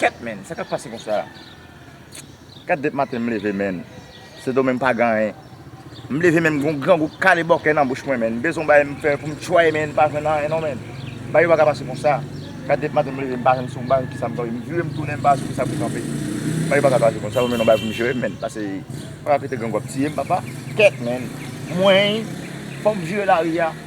Kèt menn sa kap pase konsa Kèt dep maten m leve menn Sedomen m pa gen anyen M leve menn m gen yon grangou k kale bòkè nan bouch mwen menn m bezwen yon bagay m fè pou m chwaye menn m pa jwenn anyen non menn Bagay yo pa ka pase konsa Kèt dep maten m leve m pa jwenn si yon bagay ki sa m tande m vire m tounen m pa wè si se sa pou kanpe Bagay yo pa ka pase konsa m jwenn yon bagay pou m jere m menn pase pa pete grangou ap tiye m papa Kèt menn Mwen Fò m jere lari a.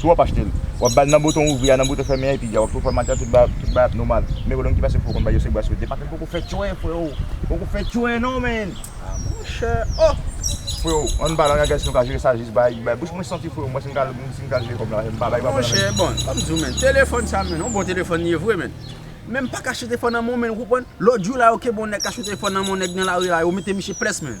Si w ap achte l, w ap ba l nan bouton ouvri a, nan bouton fèmen a epi dja w ap tou fòmate l, tout bagay ap nòmal. Men gen w nan ki pase fò konn bay yo sekba sou depak men poko fè tchwè freo, poko fè tchwè non men. Ah monchè oh! Freo, an n pale an gagè si nou ka jere sa jis bay, bay bouch mwen santi freo, mwen si m ka si m ka jere kòb la m pa bay papa nan men. Monchè bon, fò m di w men, telefòn sa men, yon bon telefòn li ye vre men, men m pa ka achte telefòn nan men w men ou konprann, lòt jou la yo ke bon nèg ka achte telefòn nan men yon nèg nan lari la yo mete misye ples men.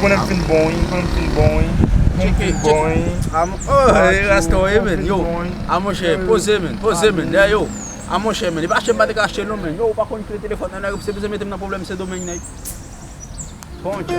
Mwen nan fin bon wi, mwen nan fin bon wi, mwen nan fin bon wi. A mwen chè, poze men, poze men, dè yo. A mwen chè men, li pa chè mwen te ka chè non men. Yo, ou pa kon kile telefon nan nan, se pou se mwen te mnen problem se domen nen. Bon chè.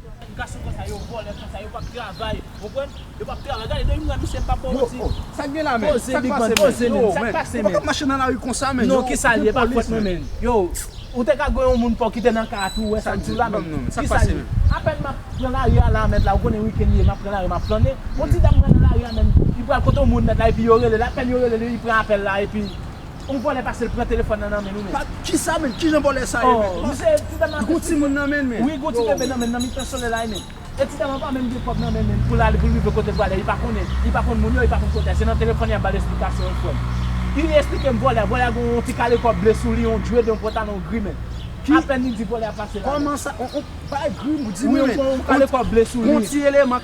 Gason konsa yo vòlè konsa yo pap travay ou konprann yo pap travay gade de imran misye mpap baw manti poze big man poze menn sak pase menn non kisal ye pa kwèt mwen menn ou te ka gen yon moun paw kite nan ka a tou ou wè sak diw la menn kisal ye apèn map pran lari a la mèt la ou konnen weekend ye map pran lari map flannen yon ti dam pran nan lari a menn li pral kote yon moun mèt la epi yo relel apèn yo relel li pran apèl la epi On vòlè pase l pran telefòn nan nan men nou menm. Kisa menm? Kijan vòlè sa ye menm? Misye ti dam ap Gon timoun nan menn menm? Wi gon ti bebe nan menn nan mitan solèy la menm. E ti dam an pa menm gen kòb nan menm menm pou l ale pou l rive kote l prale li pa konnen li pa konn moun yo li pa konn kote a se nan telefòn li ap ba l esplikasyon wi frè m. Li esplike m vòlè a vòlè a gen on ti kale kòb ble sou li on djwed on pantalon gri menm. Apèn li di vòlè a pase la menm. Kòman sa on bagay gri ou di menm? Wi on kale kòb ble sou li. Gon ti eleman